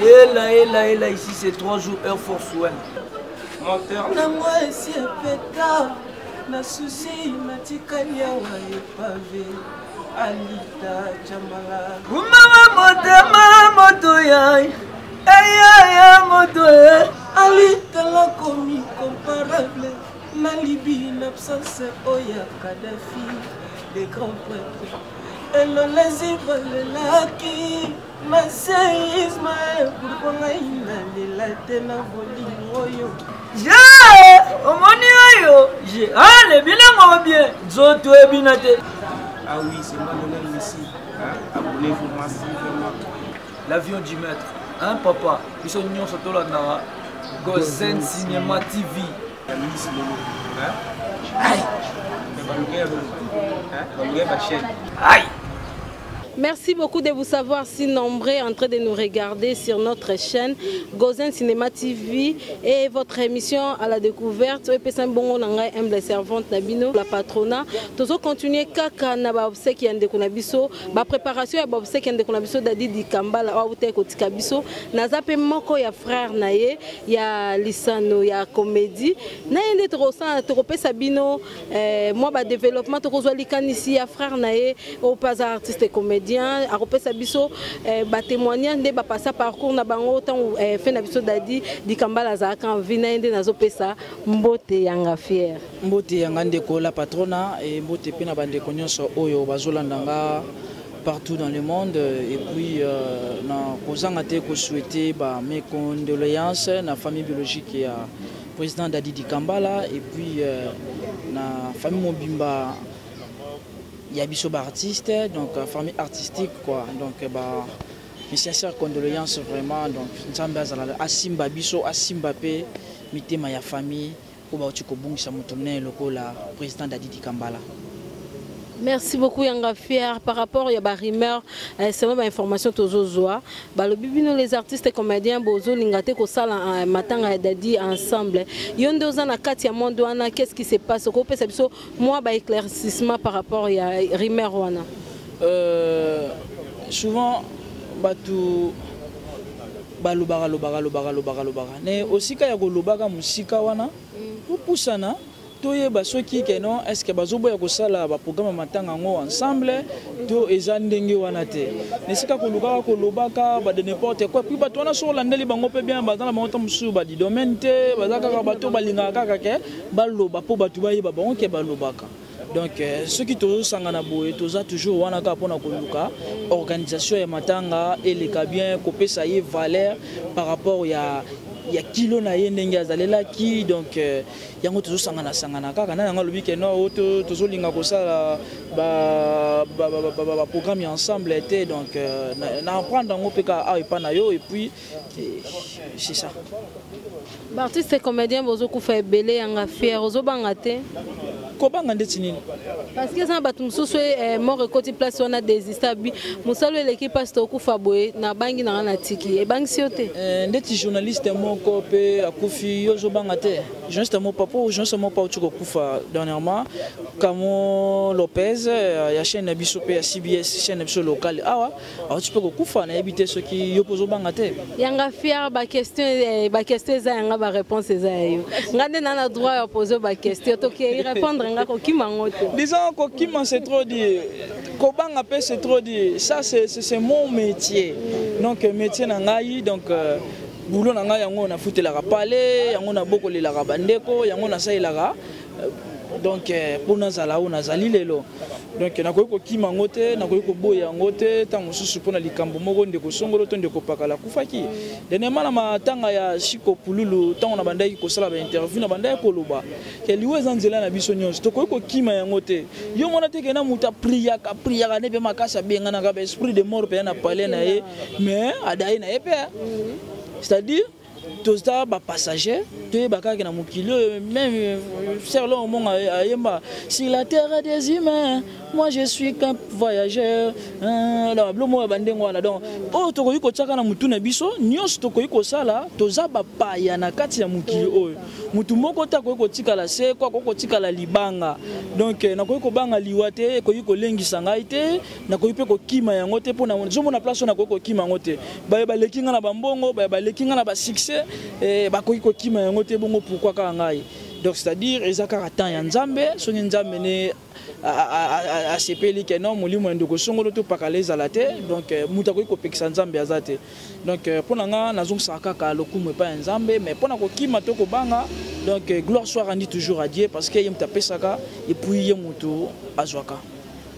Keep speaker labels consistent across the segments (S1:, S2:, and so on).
S1: Ela, ela, ela, ici c'est trois jours, heure force, ouais. Menteur. Na moi, ici, pétard.
S2: Na souci, matikani, awa, epave. Alita, chamala. Mama,
S1: motema, moto, ya. Eya, ya, moto, ya. Alita,
S2: la comi, comparable. Na libi, n'absence, oya, oh, Kadhafi. Des grands prêtres. elolezi bolelaki maseisme pourkua ngai nalela te na bolingo oyo je omoni
S1: oyo je ale ah, bilango bien nzoto ebina te ah
S2: oui c'est moi le même ici hein? abonnez-vous massivement l'avion
S1: du maître hein papa biso nyonso tolandaka gozen cinéma tv Merci
S3: beaucoup de vous savoir si nombreux en train de nous regarder sur notre chaîne Gozen Cinéma TV et votre émission à la découverte Epesam Bongo Nangai aime la servante Nabino la patrona Tozo continuer kaka na ba obsèques ya ndeko na biso ba préparation ya ba obsèques ya ndeko na biso Dadi Dikambala wa uta kotika biso naza pe moko ya frère na ye ya lisano ya komedi na ye nde tokosala tokopesa bino eh, mwa badeveloppement tokozwa likanisi ya frère na ye oyo mpe aza artiste comédien akopesa biso eh, batémoignage nde bapasa parcours na bango ntango eh, fe na biso dadi dikambala azalaka envi na ye nde nazopesa mbote yanga fiere mbote yanga ndeko
S4: la patrona e mbote mpe na bandeko nyonso oyo bazolanda nga partout dans le monde et puis euh, na kozanga te ko souhaiter ba mes condoléances na famille biologique ya président Dadi Dikambala et puis euh, na famille mobimba ya biso ba artiste donc euh, famille artistique quoi donc euh, ba mes sincères condoléances vraiment donc Nzambe azala asimba biso asimba pe mitema ya famille oyo bauti kobungisa moto monene lokola président dadi dikambala
S3: merci beaucoup yanga fier par rapport ya barumeur eh, selon bainformation tozozwa balobi bino les artistes comédien bozolinga te kosala eh, matanga ya dadi ensemble yo nde oza na kati ya monde wana qu'est ce qui se passe okopesa biso Moi ba éclaircissement par rapport ya rumeur wana. Euh,
S4: souvent bato balobaka lobaka lobaka lobaka lobaka ne osika ya kolobaka mosika wana topusana mm. toyeba soki keno est ce que bazoboya kosala baprograme ya matanga yango ensemble to eza ndenge wana te na esika kolukaka kolobaka bade n'importe quoi puis bato wana soki olandeli bango mpe bien baza na bango ntango mosusu badidomene te baza kaka bato balingaka kaka ke baloba mpo bato bayeba bango ke balobaka donc euh, soki tozosangana boye toza toujours wana kaka mpona koluka organisation ya matanga eleka bien kopesa ye valeur par rapport ya ya kilo na ye ndenge azalelaki donc euh, yango tozosangana sangana kaka na yango alobi ke no oyo tozolinga kosala baprogramme ya ensemble te donc euh, na apprendre yango mpe kaka awa epai na yo epuis c'est ça
S3: baartiste comédien bozokufa ebele yanga fiere ozobanga te kobanga
S4: ndeti nini parce que eza na bato
S3: mosusu eh, mort ekoti place wana desista bi mosala eleki mpasi tokufa boye nabangi nanga natiki ebangisi yo te eh, ndeti journaliste
S4: moko mpe akufi yo ozobanga te journaliste moko papa journaliste moko pauti kokufa dernièrement camo lopez eh, ya chaîne na biso mpe ya cbs chaîne na biso locale awa auti mpe kokufa nayebi te soki yo mpe ozobanga te yanga fier
S3: baquestion eh, baquestion eza yanga baréponse eza ya yo nga nde na na droit ya pose baquestion tokei répondre nga kokima yango te disant kokima
S4: c'est trop dit kobanga mpe c'est trop dit ça c'est mon métier donc euh, métier na ngai donc euh, boulot na ngai yango nafutelaka pale yango nabokolelaka bandeko yango nasalelaka euh, donc mpo nazala oyo nazali lelo donc nakoki kokima yango te nakoki koboya yango te ntango mosusu mpo na likambo moko ndeko songolo to ndeko pakala akufaki dernièrement na matanga ya shiko pululu ntango nabandaki kosala bainterview nabandaki koloba ke liwa eza nzela na biso nyonso tokoki kokima yango te yo mona te kena moto apriyaka priyaka nde mpe makasi abenganaka baesprit de mort mpenza na palais na ye mais adaye na ye mpe c'est-à-dire toza ba passager toyeba kaka na mokili oyo meme sœur longo monga ayemba sur la terre des humains moi je suis qu'un voyageur na bablo moko ya bandenge wana donc oyo tokoki kotiaka na motu na biso nyonso tokoki kosala toza bapaya na kati ya mokili oyo motu moko te akoki kotikala seko akoki kotikala libanga donc nakoki kobanga liwa te ekoki kolengisa ngai te nakoki mpe kokima yango te mpo nazomona place oyo nakoki kokima yango te baye baleki ngai na bambongo baye baleki ngai na basuccès eh, bakoki kokima yango te bongo pourkui kaka ngai donc c'est-à-dire eza kaka temps ya nzambe soki nzambe ne asepeli ke non molimo ya ndeko songolo topakala ezala te donc euh, moto akoki kopekisa nzambe aza te donc euh, mpo na ngai nazongisaka kaka lokumu epai ya nzambe mais mpo na kokima to kobanga donc euh, gloire soit rendu toujours à dieu parce que ye moto apesaka epuis ye moto azwaka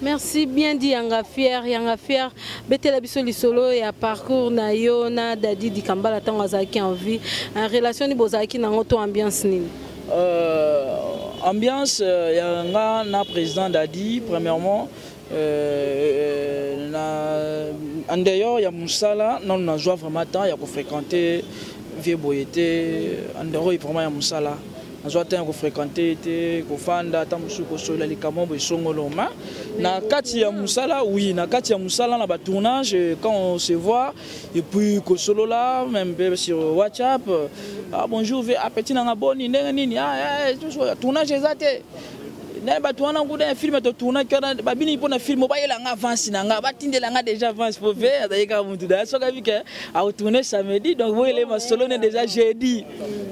S4: Merci
S3: bien dit Yanga Fier, Yanga Fier. Betela biso lisolo ya parcours na yo na Daddy Dikambala tango azalaki en vie. En relation ni bozalaki na ngoto ambiance nini? Euh,
S4: ambiance euh, ya nga na président Daddy premièrement euh, euh na en dehors ya musala nanu nazwa vraiment temps ya ko fréquenter vie boye te en dehors vraiment ya musala nazwa temps ya kofrequente ye te kofanda ata mosusu kosolola likambo yango esongolo ma na kati ya mosala oui na kati ya mosala na batournage euh, quand on se voit et puis kosolola même mpe sur whatsapp ah, bonjour ve apeti nanga boni ndenge nini ah, eh, eh, tournage eza te naye bato wana nguda ya filme totournaki wana babiniki mpo na filme bayela nga avance na nga batindela nga déjà avance po ve azali kaka motu da soki abi ke aotourne samedi donc boyele masolo ne déjà jeudi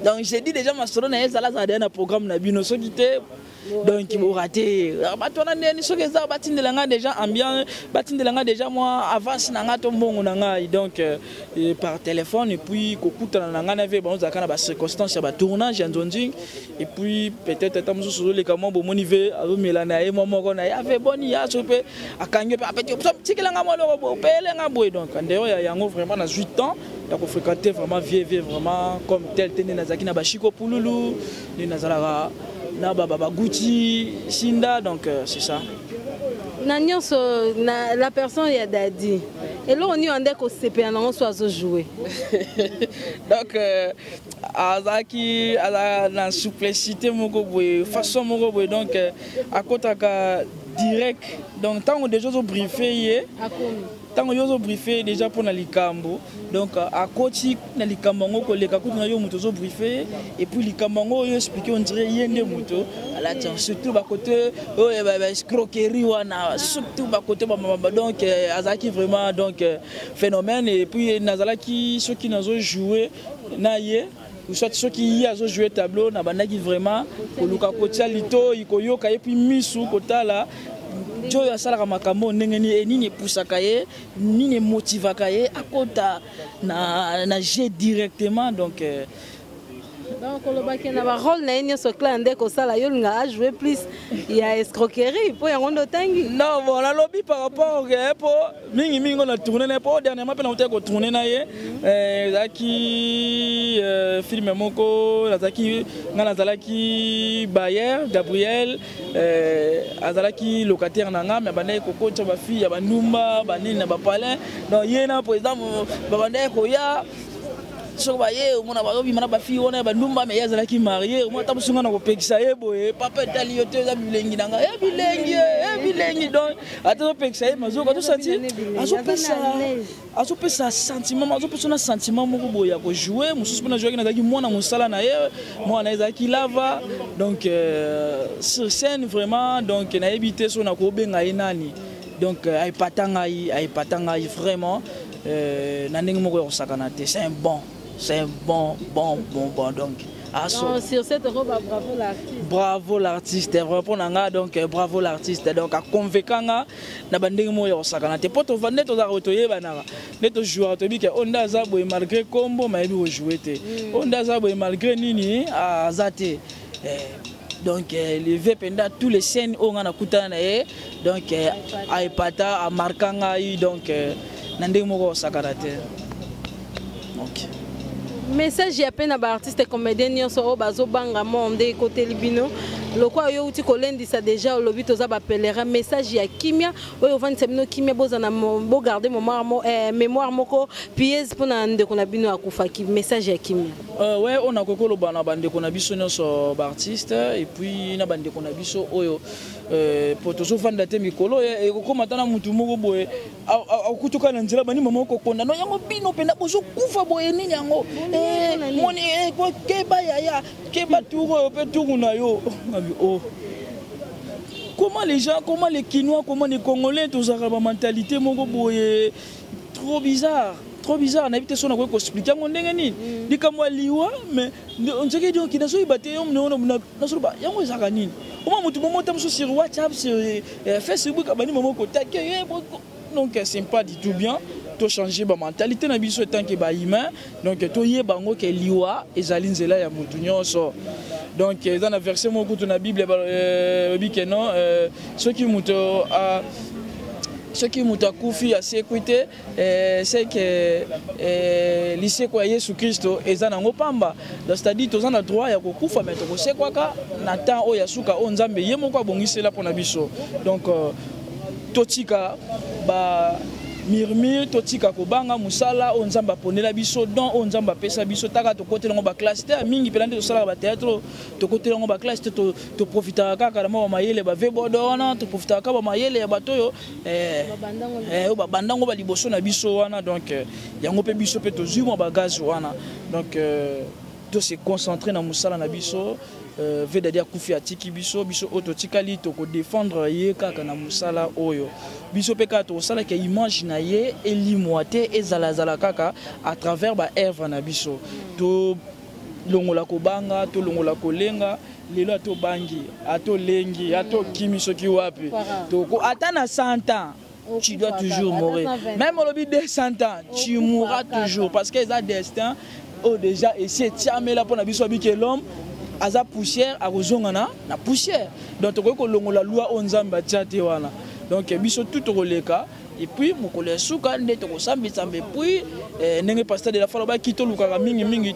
S4: donc jeudi déjà masolo na ye ezala azala deya na programme na bino soki te donc borate bato wana ndeni soki eza batindela nga déjà ambiance batindela nga déjà mwa avance na nga to mbongo na ngai donc euh, par téléphone epuis kokutana na ngai na ve bango ozalaka na bacirconstance ya batournage ya nzonzing et puis peut-être ata mosusu ozoleka mwa bomoni ve azomela na ye mwa moko na ye ave boni ya soki mpe akangi mpe apeti tikela nga mwa eloko boye opele nga boye donc ndeyo ya yango vraiment nazwi temps ya kofréquente vraiment vie vie vraiment comme tel te nde nazalaki na bashiko pululu nde nazalaka na babaguti shinda donc euh, c'est ça na
S3: nyonso na la personne ya dadi eloko nini ande kosepela nango so azojoue
S4: donc euh, azalaki azala na souplicité moko boye façon moko boye donc euh, akotaka direct donc ntango déjà ozobriefe ye ntango yo ozobriefe ye déjà mpo na likambo donc euh, akoti na likambo yango koleka kutu na yo moto ozobriefe ye epuis likambo yango oyo explike ondire ye nde moto alati yango surtout bakote oyo oh, eh, baescroquerie wana surtout bakote bamabamba donc euh, azalaki vraiment donc phénomène et puis nazalaki soki nazo jouer na ye soit soki ye azo jouer tableau nabandaki vraiment koluka kotia litoi koyoka ye puis misu kotala jo oyo asalaka makambo ndenge nini nini epusaka ye nini emotivaka ye akota na, na jeu directement donc euh, donc koloba
S3: ke na barole na ye nyonso clan nde kosala yo olinga ajoue plus ya escroquerie mpo yango nde otangi non bon nalobi
S4: par rapport ke eh, mpo mingi mingi ngo na tourne na ye mpo dernièrement mpe nautaki kotourne na ye eh, ezalaki eh, filme moko nazalaki ngai nazalaki bayer gabriel azalaki locataire na ngai me abandaki kokotya bafille ya bandumba banini na bapalin donc ye na président babandaki koya soki baye omona bazobima na bafille wana ya bandumba me ye azalaki marie omona ata mosunga na kopekisa ye boye papa etali yo te eza bilengi na ngai e bilengi e bilengi donc ata azopekisa ye mazoka tosanti azopesa azopesa sentiment azopesa na sentiment moko boye ya kojoue mosusu mpe najoaki nazalaki mwana mosala na ye mwana na ye ezalaki lava donc euh, sur scène vraiment donc nayebi te so nakobenga ye nani donc euh, aepata ngai aepata ngai vraiment Euh, na ndenge moko ya kosakana te c'est un bon c'est un bon bon bon bon donc aso ah, sur
S3: cette robe ah, bravo l'artiste bravo
S4: l'artiste repond na nga donc euh, bravo l'artiste donc aconvainca nga na bandenge moko ya kosakana te mpo tova nde tozalaka oyo toyebanaka nde tojouaka toyebi ke oyo oh, nde aza boye malgré nkombo mayebi kojoue te oyo mm. oh, nde aza boye malgré nini ah, aza te eh, donc eh, le vieux penda tous les chaînes oyo nga nakutana na ye donc eh, aepata amarka ngai donc eh, na ndenge moko osakana te okay.
S3: message ya mpe na baartiste comédien nyonso oyo bazobanga monde ekoteli bino lokola yo outi kolendisa déjà olobi toza bapelera message ya kimia oyo ovandisa bino kimia bozana bogarde eh, mémoire moko piese mpo na ndeko na bino akufaki message ya kimia Euh, ouais, on a koko
S4: loba na bande qu'on a biso nyoso ba artiste et puis na bande qu'on a biso oyo euh poto so fanda te mikolo et koko matana mutu moko boye akutuka na nzela bani mama ko konda no yango bino penda bozo kufa boye nini yango eh moni eh ko keba yaya keba tour euh, pe tour na yo oh comment les gens comment les kinois comment les congolais tozaka ba mentalité moko boye trop bizarre trop bizarre nayebi te so nakoki koexplike yango ndenge nini mm. likambo ya liwa mais nzeke donki nazoyeba te nazoloba yango ezalaka nini oma motu momo ta mosusu sur whatsapp sur eh, eh, facebook abandi momo kotake eh, donc c'est pas du tout bien tochange bamentalité na biso etanke bahumain donc toyeba yango ke liwa ezali nzela ya motu nyonso donc eza na verset moko kutu na bible euh, elobi ke non euh, soki moto soki moto akufi asekwi te eh, seke eh, liseko ya yesu kristo eza nango mpamba c'est-à-dire toza na droit ya kokufa mai tokosekwaka na temps oyo ya suka oyo nzambe ye moko abongisela mpo na biso donc euh, totika ba murmure totika kobanga mosala oyo nzambe aponela biso don oyo nzambe apesa biso taka tokotela yango baklasse te mingi mpena nde tosalaka bateatre tokotela yango baklasse te toprofitaka kaka na mwa bamayele bavebodo wana toprofitaka kaka bamayele ya bato oyo eh, eh, oyo babanda yango baliboso na biso wana donc eh, yango mpe biso mpe tozwi mwa bagaze wana donc to se concentrer na musala na biso euh, vedadi akufi atiki biso biso oyo totikali tokodefendre ye kaka na mosala oyo biso mpe kaka tokosalaka image na ye elimwa te ezalazala kaka à travers baevre na biso tolongola kobanga tolongola kolenga lelo atobangi atolengi atokimi soki wapi toko ata na 100 ans tu dois toujours mourir même olobi 200 ans tu mourras toujours parce que eza destin oyo oh, déjà esi etiamela mpo na biso abike l'homme aza poussière akozonga na na poussière donc tokoki kolongola loi oyo nzambe atia te wana donc biso tout tokoleka epuis mokolo ya suka nde tokosambisamba epuis eh, ndenge pasteur de la foi alobaki tolukaka mingimingi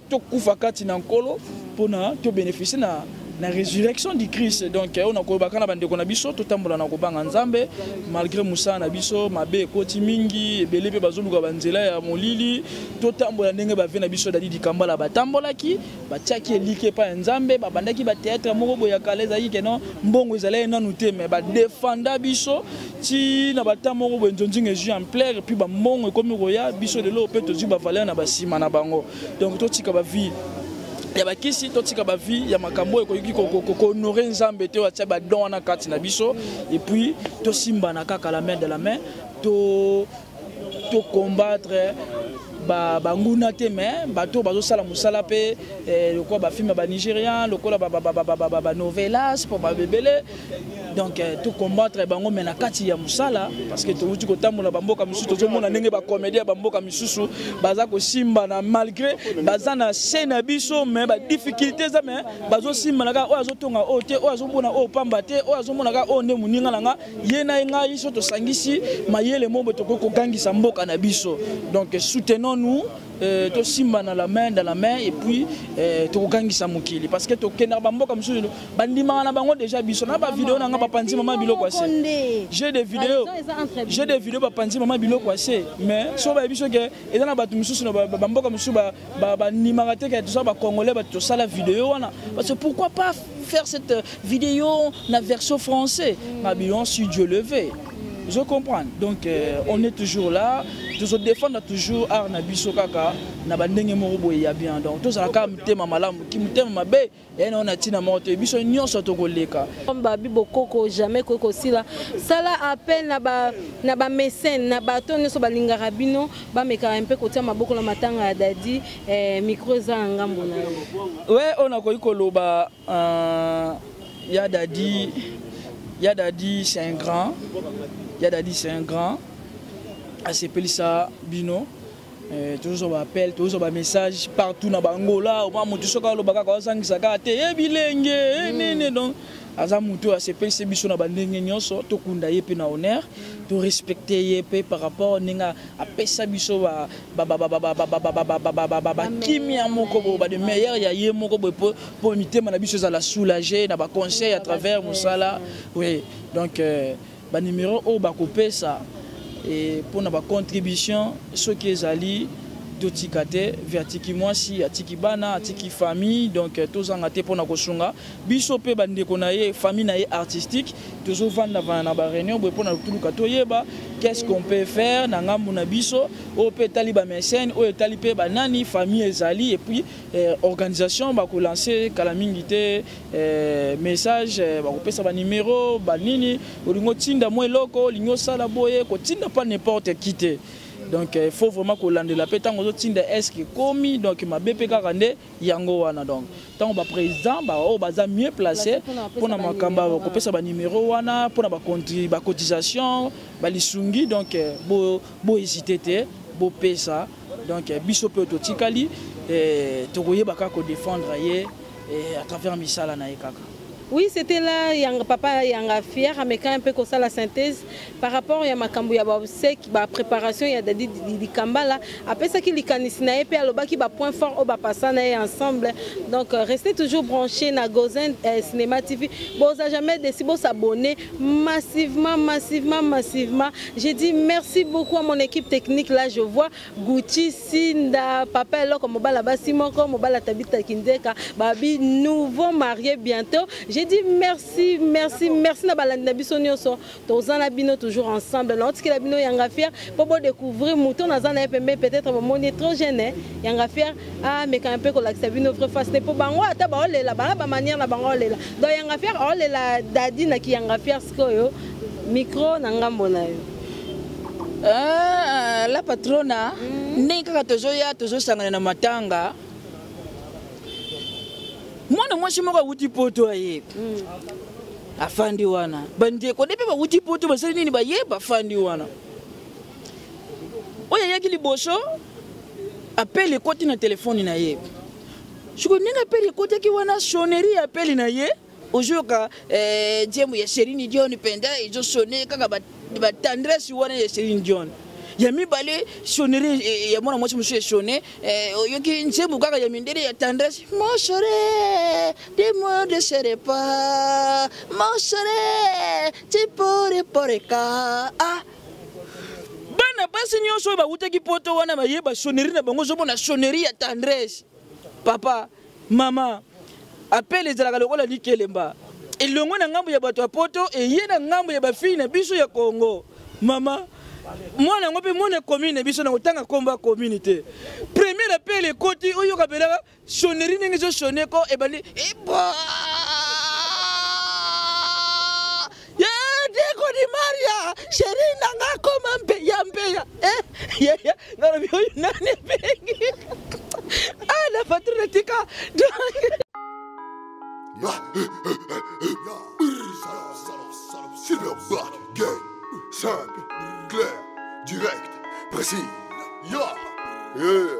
S4: tokufa kati na nkolo mpona tobénéficie na na resurrection du christ donc oyo na koyebaka na bandeko na biso totambola na kobanga nzambe malgré mosala na biso mabe ekoti mingi ebele mpe bazoluka banzela ya molili totambola ndenge bave na biso dadi dikambala batambolaki batiaki eliki epai ya nzambe babandaki bateatre moko boye ya kala ezalaki keno mbongo ezalaki nanu te me badefanda biso ti na bata moko boye nzonzinga ezwi ampleur mpe bambongo ekomi koya biso lelo mpe tozwi bavaleur na basima na bango donc totika ba vie ya bakisi totika ba vie ya makambo oyo ekoki kohonore nzambe te oyo atya badon wana kati na biso epuis tosimbana kaka la main de la main to tocombattre banguna te mais bato oyo bazosala mosala mpe eh, lokola bafilme ya banigérian lokola banovelas mpo babebele donc euh, to combattre bango mais na kati ya musala parce que towuti kotambola bamboka misusu tozomona ndenge bacomédie ya bamboka misusu baza kosimbana malgré baza na se na biso mais badifficulté eza mais bazosimbana kaka oyo azotonga oyo te oyo azomona oyo pamba te oyo azomona kaka oyo nde moninga na nga ye na ye ngai so tosangisi mayele mombo tokoki kogangisa mboka na biso donc soutenons nous Euh, tosimba na la main dans la main et puis euh, tokogangisa mokili parce que tokendaka bamboka mosusu bandimaka na bango deja biso na bavideo na ngai bapanzi mama biloko ya se jeu de video jeu de video bapanzi mama biloko ya se mais so bayebi so ke eza na bato mosusu na bamboka mosusu bandimaka te ke toza bacongolais bato tosala video wana parce que pourquoi pas faire cette euh, vidéo na version français mabilon si dieu le veut je comprends donc euh, on est toujours là tozo défendre toujours art na biso kaka na bandenge moko boye ya bien donc tozala kaka motema malamu ki motema mabe ena oyo na ntina moko te biso nyonso tokoleka babi bokoko
S3: jamais koki kosila sala appel na bamesene na bato nyonso balingaka bino bamekaka mpe kotia maboko na matanga ya dadi eh, mikro eza na ngambo na yo we oyo nakoki koloba
S4: euh, ya dadi ya dadi c'est un grand ya dadi c'est un grand asepelisa bino Eh, tozozwa baappel tozozwa bamessage partout na bangola oma moto soki aloba kaka azangisa kaka te ye eh, bilenge eh, hmm. nene donc aza moto oyo asepelisi biso na bandenge nyonso tokunda ye mpe na honneur hmm. torespecte ye mpe par rapport ndenge apesa biso bakimia moko boye ba de meilleur ya ye moko boye mpo mitema na biso ezala soulage na baconseil à travers mosala oui donc euh, Ba numeros oyo bakopesa eh, mpo na ba contribution soki ezali totika te ve atiki mwasi atiki bana atiki famille donc euh, tozanga te mpo na kosunga biso mpe bandeko na ye famille na ye artistique tozovandavana na baréunion boye mpo na toluka toyeba qu'est-ce qu'on peut faire na ngambo na biso oyo mpe etali bamesene oyo etali mpe banani famille ezali epuis euh, organisation bakolanse kala mingi te eh, message eh, bakopesa banimero banini olingi otinda mwa eloko olingi osala boye kotinda pa n'importe qui te donc eh, il faut vraiment kolandela mpe ntango ozotinda eske ekomi donc mabe mpe kaka nde yango wana donc ntango baprésident baoyo baza mieux place mpo na makambo ya kopesa banimero wana mpo na bacotisation balisungi donc bohésite te bopesa donc eh, biso mpe totikali eh, tokoyeba kaka kodefendre ye eh, à travers misala na ye kaka Oui, c'était là,
S3: yang, papa Yanga Fier, ameka un peu comme ça la synthèse par rapport à Makambu ya Babsek, ba préparation ya Dadi Dikambala. Après ça, qui likanis na epe aloba qui ba point fort au ba passa na ensemble. Donc euh, restez toujours branchés na Gozen euh, Cinéma TV. Bon, ça jamais décidé de s'abonner. massivement, massivement, massivement. J'ai dit merci beaucoup à mon équipe technique. Là, je vois Gucci, Sinda, Papa Eloko, Mobala Basimoko, Mobala Tabita Kindeka, Babi, nouveau marié bientôt. J'ai dit merci, merci, merci na balandi na biso nyoso. Tozan na bino toujours ensemble. Na otiki la bino yanga fier pour découvrir mouton na zana epembe peut-être bomoni trop jeune hein. yanga fier amekana ah, mpe kolakisa bino vrai face te mpo bango ata baolela banga bamanière na bango olela donc yanga fiere aolela dadi na kiyanga fiere sikoyo micro na ngambo na yo ah,
S4: la patrona mm. ndenge kaka tozoya tozosangana na matanga mwana mwasi moko awuti poto aye mm. afandi wana bandeko nde mpe bawuti poto basali nini baye bafandi wana oyo ayaki liboso apele ekoti na telefone na ye sikoyo ndenge apele ekotaki wana sonnerie ya apele na ye ozoyoka eh, nzembo ya Celine Dion mpenza ezosone kaka batendresse wana ya Celine Dion ya mibale sonnerie eh, ya mwana mwasi mosusu esone eh, oyoki nzembo kaka ya mindele ya tendresse mon chere de moi de chere pas mon chere ti pore poreka ah bana basi nyonso oyo bawutaki poto wana baye basoneri na bango ozomona soneri ya tendresse papa mama apele ezalaka lokola likelemba elongo na ngambo ya bato ya poto eye na ngambo ya bafii na biso ya kongo mama mwana yango mpe mwana commune na biso na kotanga nkombo ya commune te première apele ekoti oyoka belaka Sonnerie ndenge ezo sonne ko ebandi ebo. sheri na nga akoma mpeya mpeya eh, yaya nalobi oyo nani ebengi ah na patru na tika Silverback,
S5: gay, simple, clair, direct, précis. Yeah, yeah.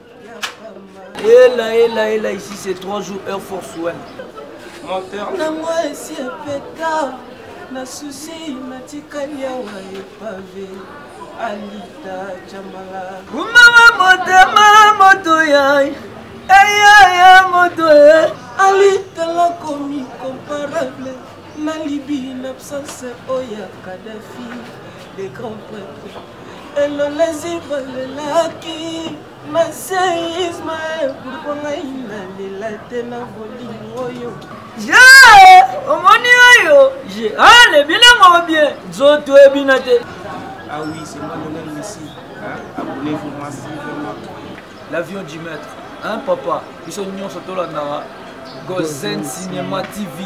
S1: Ela, ela, ela, ici c'est 3 jours, Air Force One. Moteur. Nango esi epeta,
S2: na souci natikali awa epave. Alita Jamala. Mama motema
S1: moto ya eya ya moto ya.
S2: Alita la komi comparable na libi na absence oya Kadhafi le grand prêtre. elolezi balelaki maseisme pourkua ngai nalela te na bolingo oyo je
S1: omoni oyo je ale ah, bilango bien nzoto ebina te ah oui
S2: c'est moi lionel messi abonnez-vous massivement l'avion
S1: du maître hein papa biso nyonso tolandaka gozen cinéma tv